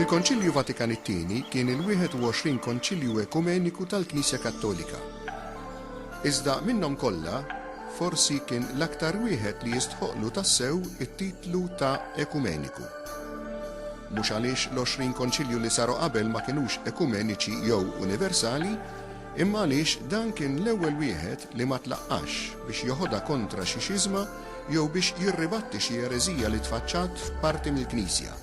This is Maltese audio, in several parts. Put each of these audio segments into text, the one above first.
Il-Konċilju Vatikan it-Tieni kien il-21 Konċilju Ekumeniku tal-Knisja Kattolika. Iżda minnhom kollha, forsi kien l-aktar wieħed li jistħoqqlu tassew it-titlu ta' ekumeniku. Mhux għaliex l-għoxrin Konċilju li saru qabel ma kinux ekumeniċi jew universali, imma għaliex dan kien l-ewwel wieħed li ma tlaqqax biex joħodha kontra xi xiżma jew biex jirribatti xi ereżija li tfaċċat f'parti mill-Knisja,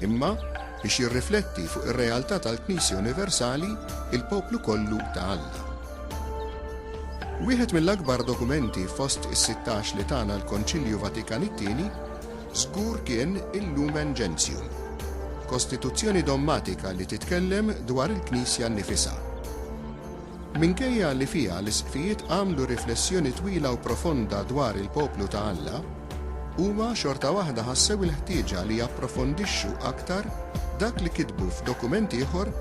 imma biex jirrifletti fuq ir-realtà tal-Knisja universali, il-poplu kollu ta' Alla. Wieħed mill-akbar dokumenti fost is-sittax li tana l-Konċilju Vatikan it-Tieni, żgur kien il-Lumen Gentium, kostituzzjoni dommatika li titkellem dwar il-Knisja nnifisha. Minkejja li fiha l-isqfijiet għamlu riflessjoni twila u profonda dwar il-poplu ta' Alla, huma xorta waħda ħassew il-ħtieġa li japprofondixxu aktar dak li kitbu f'dokument ieħor,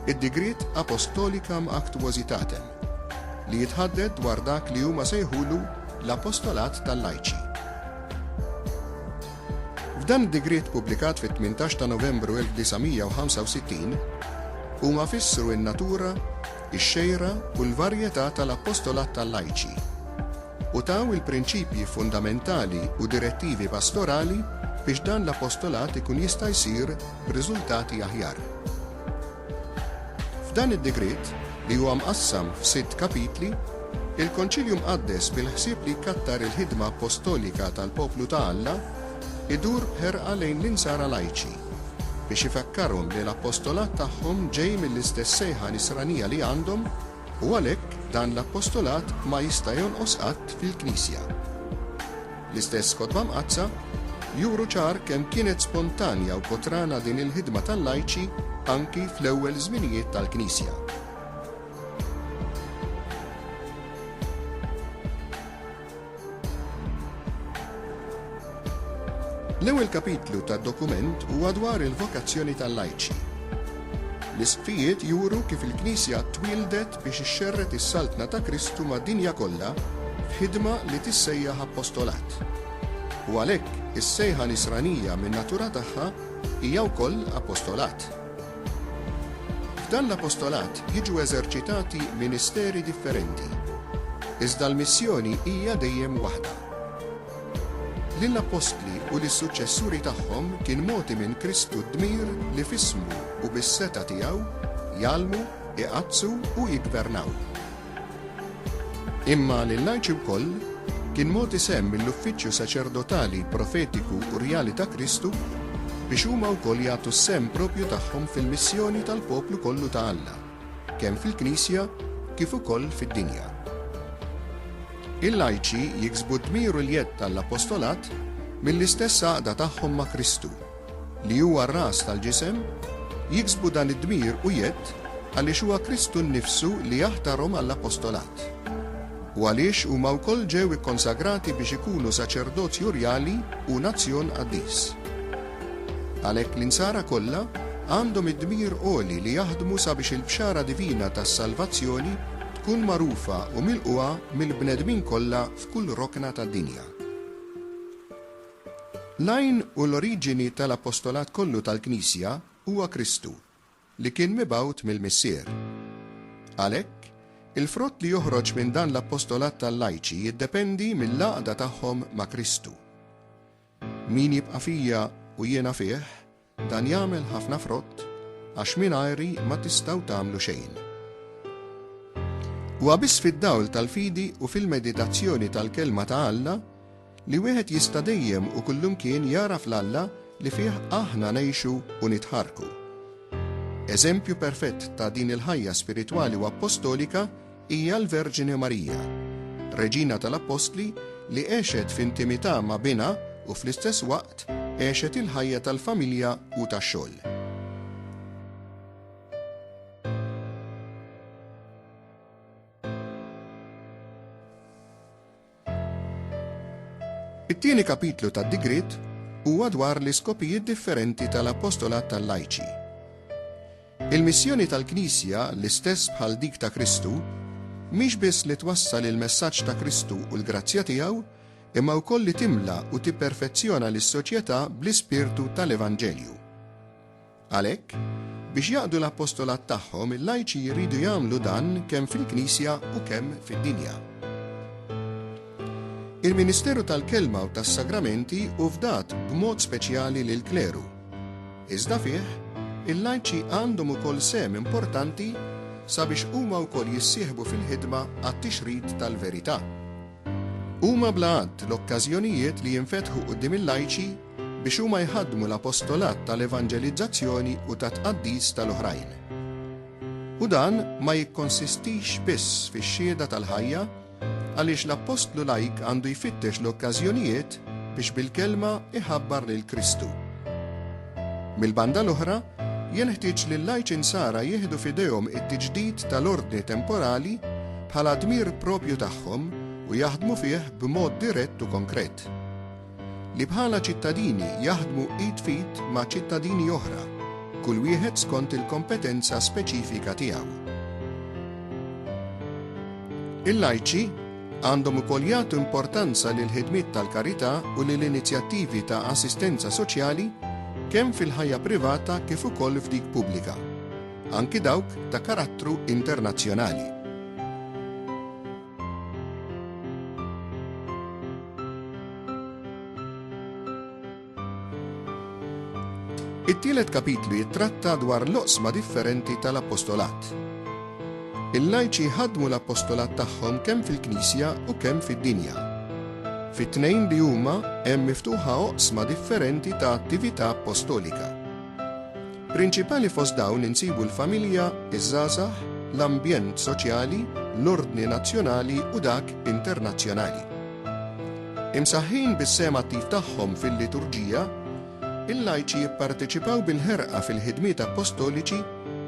id-Digriet Apostolicam Actuositatem. li jitħadded dwar dak li huma sejħulu l-apostolat tal-lajċi. F'dan id-digriet pubblikat fit-18 ta' Novembru 1965, huma fissru n-natura, ix-xejra u l-varjetà tal-apostolat tal-lajċi u taw il-prinċipji fundamentali u direttivi pastorali biex dan l-apostolat ikun jista' jsir b'riżultati aħjar. F'dan id-digriet, li huwa mqassam f'sitt kapitli, il-Konċilju Mqaddes bil-ħsieb li jkattar il-ħidma appostolika tal-poplu ta' Alla, idur b'ħerqa lejn l-Insara lajċi, biex ifakkarhom li l-appostolat tagħhom ġej mill-istess sejħa nisranija li għandhom, U għalhekk dan l-appostolat ma jista' jonqos qatt fil-Knisja. L-istess Kotba Mqaddsa juru ċar kemm kienet spontanja u kotrana din il-ħidma tal-lajċi anki fl-ewwel żminijiet tal-Knisja. L-ewwel kapitlu tad-dokument huwa dwar il-vokazzjoni tal-lajċi. L-Isqfijiet juru kif il-Knisja twieldet biex ixxerred is-Saltna ta' Kristu mad-dinja kollha f'ħidma li tissejjaħ apostolat. U għalhekk is-sejħa Nisranija min-natura tagħha hija wkoll apostolat. F'dan l-apostolat jiġu eżerċitati ministeri differenti, iżda l-missjoni hija dejjem waħda. Lill-appostli u lis-suċċessuri tagħhom kien mogħti minn Kristu d-dmir li f'ismu u bis-setgħa tiegħu jgħallmu, iqaddsu u jiggvernaw. Imma lill-Arċi wkoll kien mogħti sehem mill-uffiċċju saċerdotali, profetiku u rjali ta' Kristu biex huma wkoll jagħtu s-sehem proprju tagħhom fil-missjoni tal-poplu kollu ta' Alla, kemm fil-Knisja kif ukoll fid-dinja. Il-Lajċi jiksbu d-dmir u l-jedd ta' l-Apostolat mill-istess għaqda tagħhom ma' Kristu. li huwa r-ras tal-ġisem, jiksbu dan id-dmir u jedd għaliex huwa Kristu nnifsu li jaħtarhom għall-apostolat, u għaliex huma wkoll ġew ikkonsagrati biex ikunu saċerdozju rjali u nazzjon qaddis. Għalhekk l-insara kollha għandhom id-dmir għoli li jaħdmu sabiex il-bxara divina tas-salvazzjoni tkun magħrufa u milqugħa mill-bnedmin kollha f'kull rokna tad-dinja. L-għajn u l-oriġini tal-apostolat kollu tal-Knisja huwa Kristu, li kien mibgħut mill-Missier. Għalhekk, il-frott li joħroġ minn dan l-apostolat tal-lajċi jiddependi mill-għaqda tagħhom ma' Kristu. Min jibqa' fija u jiena fih, Dan jagħmel ħafna frott għax mingħajri ma tistgħu tagħmlu xejn. Huwa biss fid-dawl tal-fidi u fil-meditazzjoni tal-Kelma ta' Alla li wieħed jista' dejjem u kullimkien jagħraf l-Alla li fih aħna ngħixu u nitħarrku. Eżempju perfett ta' din il-ħajja spiritwali u appostolika Hija l-Verġni Marija, Reġina tal-Appostli li għexet f'intimità ma' Binha u fl-istess waqt għexet il-ħajja tal-familja u tax-xogħol. It-tieni kapitlu tad-digriet huwa dwar l-iskopijiet differenti tal-apostolat tal-lajċi. Il-missjoni tal-Knisja, l-istess bħal dik ta' Kristu, mhix biss li twassal il-messaġġ ta' Kristu u l-grazzja tiegħu, imma wkoll li timla u tipperfezzjona lis-soċjetà bl-ispirtu tal-evanġelju. Għalhekk, biex jaqdu l-apostolat tagħhom, il-lajċi jridu jagħmlu dan kemm fil-Knisja u kemm fid-dinja. Il-ministeru tal-kelma u tas-sagramenti hu fdat b'mod speċjali lill-kleru. Iżda fih, il-lajċi għandhom ukoll sehem importanti sabiex huma wkoll jissieħbu fil-ħidma għat-tixrid tal-verità. Huma bla għadd l-okkażjonijiet li jinfetħu quddiem il-lajċi biex huma jħaddmu l-apostolat tal-evanġelizzazzjoni u tat-tqaddis tal-oħrajn. U dan ma jikkonsistix biss fix-xhieda tal-ħajja, għaliex l-appostlu lajk għandu jfittex l-okkażjonijiet biex bil-kelma jħabbar lil Kristu. Mill-banda l-oħra, jenħtieġ li l-lajċi Nsara jieħdu f'idejhom it-tiġdid tal-ordni temporali bħala dmir proprju tagħhom u jaħdmu fih b'mod dirett u konkret. li bħala ċittadini jaħdmu id f'id ma' ċittadini oħra, kull wieħed skont il-kompetenza speċifika tiegħu. Il-lajċi għandhom ukoll jagħtu importanza lill-ħidmiet tal-karità u lill-inizjattivi ta' assistenza soċjali kemm fil-ħajja privata kif ukoll f'dik pubblika, anki dawk ta' karattru internazzjonali. It-tielet kapitlu jittratta dwar l-oqsma differenti tal-apostolat. Il-lajċi ħadmu l-apostolat tagħhom kemm fil-Knisja u kemm fid-dinja. Fit-tnejn li huma hemm miftuħa oqsma differenti ta' attività apostolika. Prinċipali fost dawn insibu l-familja, iż-żgħażagħ, l-ambjent soċjali, l-ordni nazzjonali u dak internazzjonali. Imsaħħin bis-sehem attiv tagħhom fil-liturġija, il-lajċi jipparteċipaw bil-ħerqa fil-ħidmiet appostoliċi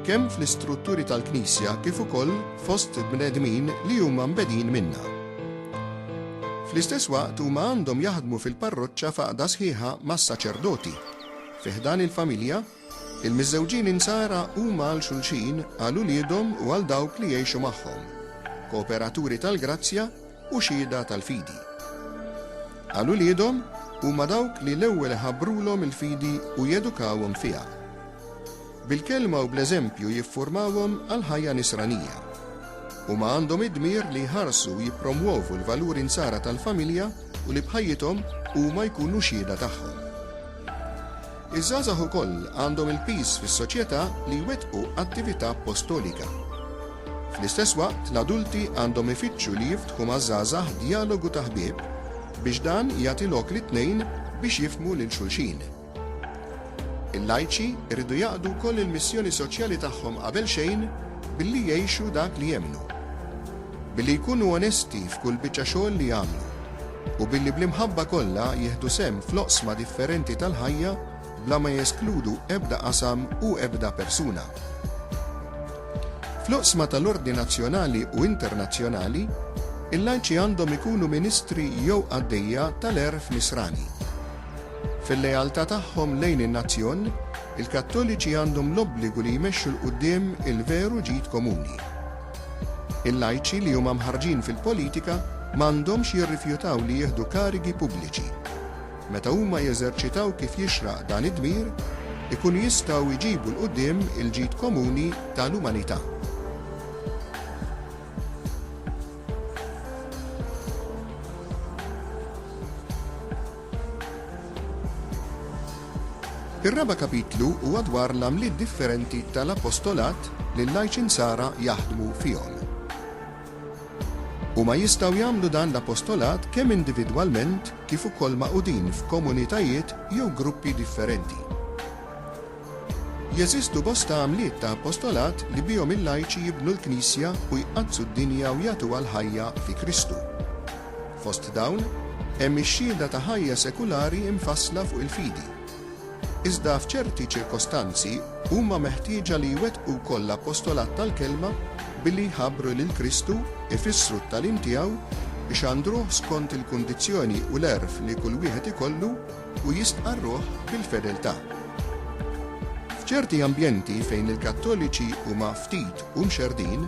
kemm fl-istrutturi tal-Knisja kif ukoll fost bnedmin li huma mbegħdin minnha. Fl-istess waqt huma għandhom jaħdmu fil-parroċċa f'għaqda sħiħa mas-saċerdoti, Fi ħdan il-familja, il-miżżewġin Insara huma għal xulxin, għal uliedhom u għal dawk li jgħixu magħhom, kooperaturi tal-grazzja u xhieda tal-fidi. Għal uliedhom, huma dawk li l-ewwel iħabbrulhom il-fidi u jedukawhom fiha. Bil-kelma u bl-eżempju jiffurmawhom għall-ħajja nisranija. Huma għandhom id-dmir li jħarsu u jippromwovu l-valuri Nsara tal-familja u li b'ħajjithom huma jkunu xhieda tagħhom. Iż-żgħażagħ ukoll għandhom il-piż fis-soċjetà li jwettqu attività appostolika. Fl-istess waqt, l-adulti għandhom ifittxu li jiftħu maż-żgħażagħ djalogu ta' ħbieb biex dan jagħti lok lit-tnejn biex jifhmu lil xulxin. Il-lajċi jridu jaqdu wkoll il-missjoni soċjali tagħhom qabel xejn billi jgħixu dak li jemmnu. Billi jkunu onesti f'kull biċċa xogħol li jagħmlu. u billi bl-imħabba kollha jieħdu sehem fl-oqsma differenti tal-ħajja bla ma jeskludu ebda qasam u ebda persuna. Fl-oqsma tal-ordni nazzjonali u internazzjonali, il-lajċi għandhom ikunu ministri jew qaddejja tal-għerf nisrani. Fil-lealtà tagħhom lejn in-nazzjon, il-Kattoliċi għandhom l-obbligu li jmexxu 'l quddiem il-veru ġid komuni. Il-lajċi li huma mħarrġin fil-politika ma għandhomx jirrifjutaw li jieħdu karigi pubbliċi. Meta huma jeżerċitaw kif jixraq dan id-dmir, ikunu jistgħu jġibu 'l quddiem il-ġid komuni ta' l-umanità. Ir-raba' kapitlu huwa dwar l-għamliet differenti ta' l-apostolat li l-lajċi Nsara jaħdmu fihom. Huma jistgħu jagħmlu dan l-apostolat kemm individwalment kif ukoll magħqudin f'komunitajiet jew gruppi differenti. Jeżistu bosta għamliet ta' apostolat li bihom il-lajċi jibnu l-Knisja u jqaddsu d-dinja u jagħtuha l-ħajja fi Kristu. Fost dawn, hemm ix-xhieda ta' ħajja sekulari imfassla fuq il-fidi. Iżda f'ċerti ċirkostanzi huma meħtieġa li jwettqu wkoll l-apostolat tal-kelma billi jħabbru lil Kristu, ifissru t-tagħlim tiegħu, ixandruh skont il-kundizzjoni u l-għerf li kull wieħed ikollu, u jistqarruh bil-fedeltà. F'ċerti ambjenti fejn il-Kattoliċi huma ftit u mxerrdin,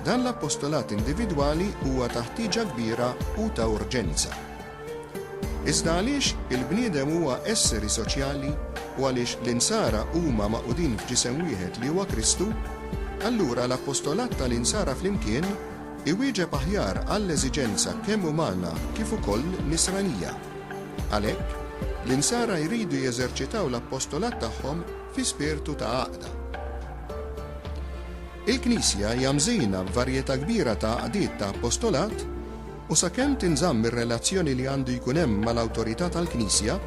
dan l-apostolat individwali huwa ta' ħtieġa kbira u ta' urġenza. Iżda għaliex il-bniedem huwa esseri soċjali u għaliex l-Insara huma magħqudin f'ġisem wieħed li huwa Kristu, allura l-apostolat tal-Insara flimkien iwieġeb aħjar għall-eżiġenza kemm umana kif ukoll nisranija. Għalhekk, l-Insara jridu jeżerċitaw l-appostolat tagħhom fi spirtu ta' għaqda. Il-Knisja hija mżina b'varjetà kbira ta' għaqdiet ta' appostolat u sakemm tinżamm ir-relazzjoni li għandu jkun hemm mal-awtorità tal-Knisja,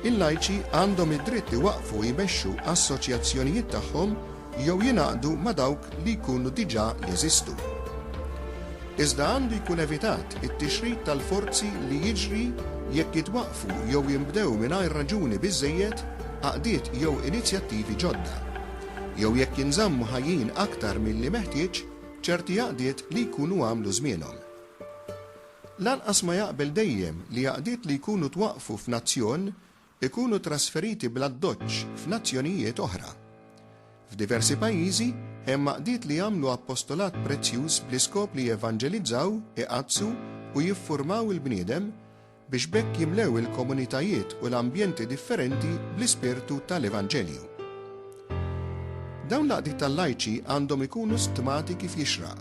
il-lajċi għandhom id-dritt iwaqqfu u jmexxu assoċjazzjonijiet tagħhom jew jingħaqdu ma' dawk li jkunu diġà jeżistu. Iżda għandu jkun evitat it-tixrid tal-forzi li jiġri jekk jitwaqqfu jew jinbdew mingħajr raġuni biżżejjed għaqdiet jew inizjattivi ġodda, jew jekk jinżammu ħajjin aktar milli meħtieġ ċerti għaqdiet li jkunu għamlu żmienhom. Lanqas ma jaqbel dejjem li għaqdiet li jkunu twaqqfu f'nazzjon ikunu trasferiti bl-addoċċ f'nazzjonijiet oħra. F'diversi pajjiżi, hemm għaqdiet li jagħmlu appostolat prezzjuż bl-iskop li jevanġelizzaw, iqaddsu u jiffurmaw il-bniedem biex b'hekk jimlew il-komunitajiet u l-ambjenti differenti bl-ispirtu tal-Evanġelju. Dawn l-għaqdiet tal-lajċi għandhom ikunu stmati kif jixraq.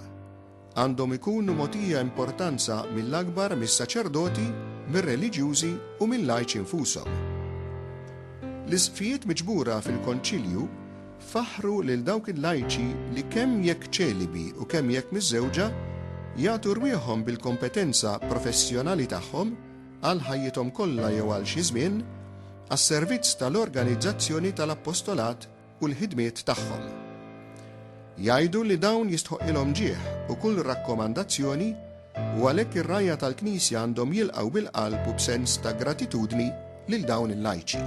Għandhom ikunu mogħtija importanza mill-akbar mis-saċerdoti, mir-reliġjużi u mil-lajċi nfushom. L-isqfijiet miġbura fil-Konċilju faħħru lil dawk il-lajċi li kemm jekk ċelibi u kemm jekk miżżewġa, jagħtu rwieħhom bil-kompetenza professjonali tagħhom, għal ħajjithom kollha jew għal xi żmien, għas-servizz tal-organizzazzjoni tal-appostolat, u l-ħidmiet tagħhom. Jgħidu li dawn jistħoqqilhom ġieħ u kull rakkomandazzjoni u għalhekk ir-rgħajja tal-Knisja għandhom jilqgħu bil-qalb u b'sens ta' gratitudni lil dawn il-lajċi.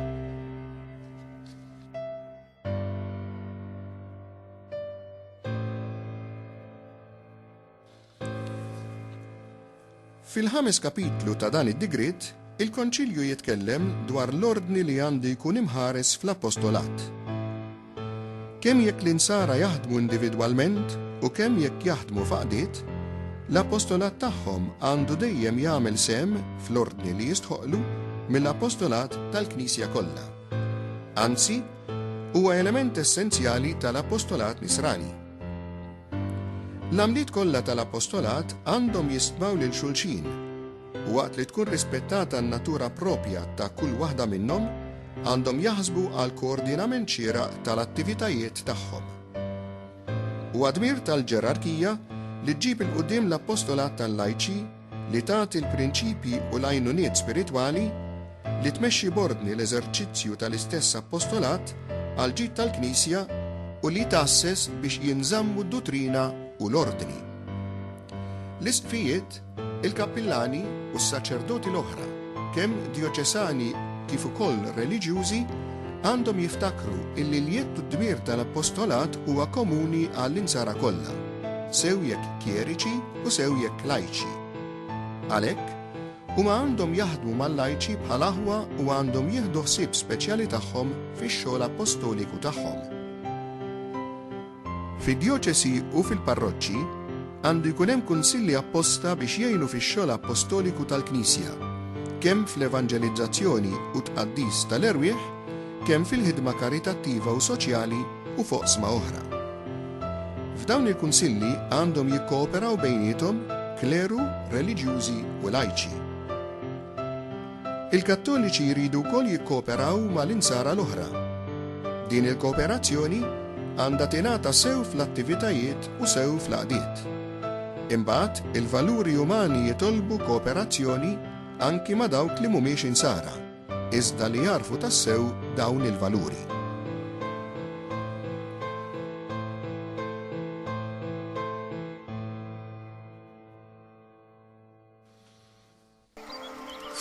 Fil-ħames kapitlu ta' dan id-digriet, il-Konċilju jitkellem dwar l-ordni li għandu jkun imħares fl-apostolat. Kemm jekk l-insara jaħdmu individwalment u kemm jekk jaħdmu f'għaqdiet, l-apostolat tagħhom għandu dejjem jagħmel sehem fl-ordni li jistħoqqlu mill-apostolat tal-Knisja kollha. Anzi, huwa element essenzjali tal-apostolat Nisrani. L-għamliet kollha tal-apostolat għandhom jistmaw lil xulxin, u waqt li tkun rispettata n-natura proprja ta' kull waħda minnhom, għandhom jaħsbu għal koordinament xieraq tal-attivitajiet tagħhom. Huwa dmir tal-ġerarkija li ġġib 'il quddiem l-apostolat tal-lajċi, li tagħti l-prinċipji u l-għajnuniet spiritwali, li tmexxi b'ordni l-eżerċizzju tal-istess appostolat għall-ġid tal-Knisja, u li tgħasses biex jinżammu d-duttrina u l-ordni. L-Isqfijiet, il-Kappillani u s-saċerdoti l-oħra, kemm djoċesani kif ukoll reliġjużi, għandhom jiftakru illi l-jedd u d-dmir tal-appostolat huwa komuni għall-Insara kollha. sew jekk kjeriċi u sew jekk lajċi. Għalhekk, huma għandhom jaħdmu mal-lajċi bħal aħwa u għandhom jieħdu ħsieb speċjali tagħhom fix-xogħol appostoliku tagħhom. Fid-djoċesi u fil-parroċċi għandu jkun hemm kunsilli apposta biex jgħinu fix-xogħol appostoliku tal-Knisja, kemm fl-evanġelizzazzjoni u tqaddis tal-erwieħ, kemm fil-ħidma karitattiva u soċjali u f'oqsma oħra. F'dawn il-kunsilli għandhom jikkooperaw bejniethom kleru, reliġjużi u lajċi. Il-Kattoliċi jridu wkoll jikkooperaw mal-Insara l-oħra. Din il-kooperazzjoni għandha tingħata sew fl-attivitajiet u sew fl-għaqdiet. Imbagħad, il-valuri umani jitolbu kooperazzjoni anki ma' dawk li mhumiex Insara. iżda li jagħrfu tassew dawn il-valuri.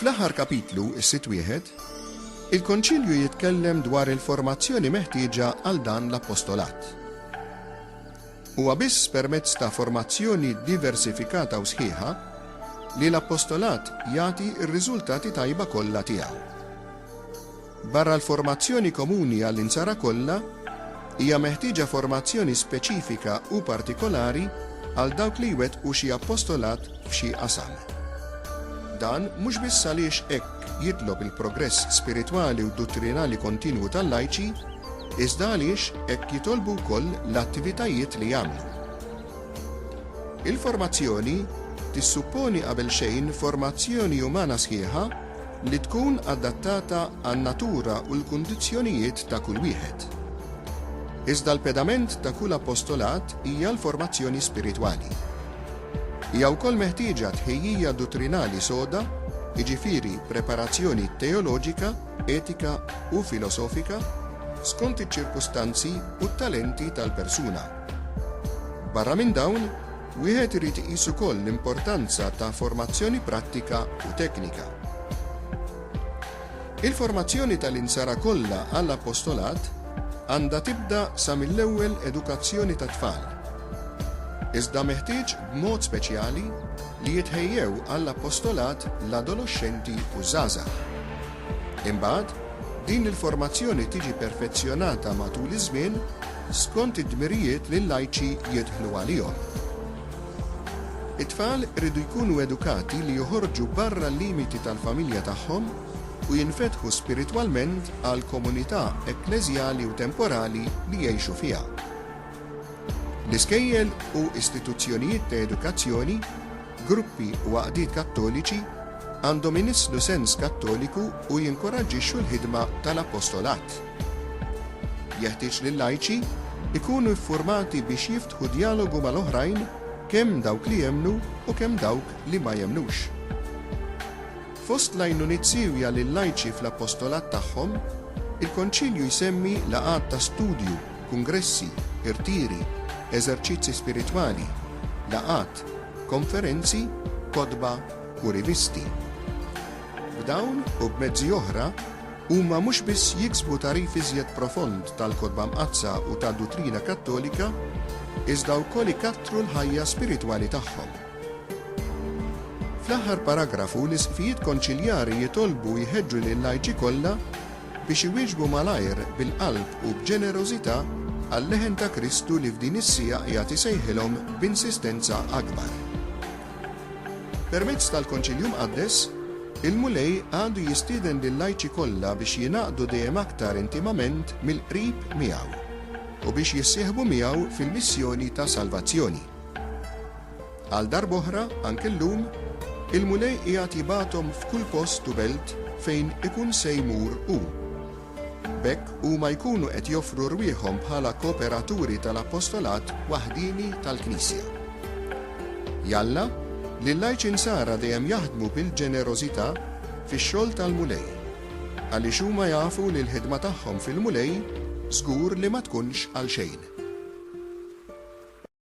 Fl-aħħar kapitlu, is-sit wieħed, il-Konċilju jitkellem dwar il-formazzjoni meħtieġa għal dan l-apostolat. Huwa biss permezz ta' formazzjoni diversifikata u sħiħa li l-appostolat jagħti r-riżultati tajba kollha tiegħu. Barra l-formazzjoni komuni għall-Insara kollha, hija meħtieġa formazzjoni speċifika u partikolari għal dawk li jwettqu xi appostolat f'xi qasam. Dan mhux biss għaliex hekk jitlob il-progress spiritwali u duttrinali kontinwu tal-lajċi, iżda għaliex hekk jitolbu wkoll l-attivitajiet li jagħmlu. Il-formazzjoni tissupponi qabel xejn formazzjoni umana sħiħa li tkun adattata għan-natura u l-kundizzjonijiet ta' kull wieħed. Iżda l-pedament ta' kull apostolat hija l-formazzjoni spiritwali. Hija wkoll meħtieġa tħejjija duttrinali soda, jiġifieri preparazzjoni teoloġika, etika u filosofika, skont iċ-ċirkustanzi u t-talenti tal-persuna. Barra minn dawn, wieħed irid iqis ukoll l-importanza ta' formazzjoni prattika u teknika. Il-formazzjoni tal-Insara kollha għall-appostolat għandha tibda sa mill-ewwel edukazzjoni tat-tfal. Iżda meħtieġ b'mod speċjali li jitħejjew għall-appostolat l-adoloxxenti u ż-żgħażagħ. Imbagħad, din il-formazzjoni tiġi perfezzjonata matul iż-żmien skont id-dmirijiet li l-lajċi jidħlu għalihom. It-tfal iridu jkunu edukati li joħorġu barra l-limiti tal-familja tagħhom u jinfetħu spiritwalment għall-komunità ekkleżjali u temporali li jgħixu fiha. L-iskejjel u istituzzjonijiet ta' edukazzjoni, gruppi u għaqdiet Kattoliċi għandhom inisslu sens Kattoliku u jinkoraġġixxu l-ħidma tal-apostolat. Jeħtieġ li l-lajċi jkunu ffurmati biex Ħu djalogu mal-oħrajn, kemm dawk li jemmnu u kemm dawk li ma jemmnux. Fost l-għajnuniet siewja lil-lajċi fl-appostolat tagħhom, il-Konċilju jsemmi laqgħat ta' studju, kungressi, irtiri, eżerċizzi spiritwali, laqgħat, konferenzi, kotba u rivisti. B'dawn u b'mezzi oħra, Huma mhux biss jiksbu tagħrif iżjed profond tal-Kotba Mqaddsa u tad-duttrina Kattolika, iżda wkoll ikattru l-ħajja spiritwali tagħhom. Fl-aħħar paragrafu l-Isqfijiet Konċiljari jitolbu u jħeġġu lil-lajċi kollha biex iwieġbu malajr bil-qalb u b'ġenerożità għal-leħen ta' Kristu li f'din is-siegħa qiegħed isejħilhom b'insistenza akbar. Permezz tal-Konċilju Mqaddes, il-Mulej għadu jistieden lil-lajċi kollha biex jingħaqdu dejjem aktar intimament mill-qrib miegħu u biex jissieħbu miegħu fil-missjoni ta' salvazzjoni. Għal darb'oħra, anke llum, il-Mulej qiegħed jibgħathom f'kull post u belt fejn ikun se jmur hu. B'hekk huma jkunu qed joffru rwieħhom bħala kooperaturi tal-apostolat waħdieni tal-Knisja. Jalla, li l-lajċi Nsara dejjem jaħdmu bil-ġenerożità fix-xogħol tal-Mulej, għaliex huma jafu li l-ħidma tagħhom fil-Mulej żgur li ma tkunx għalxejn.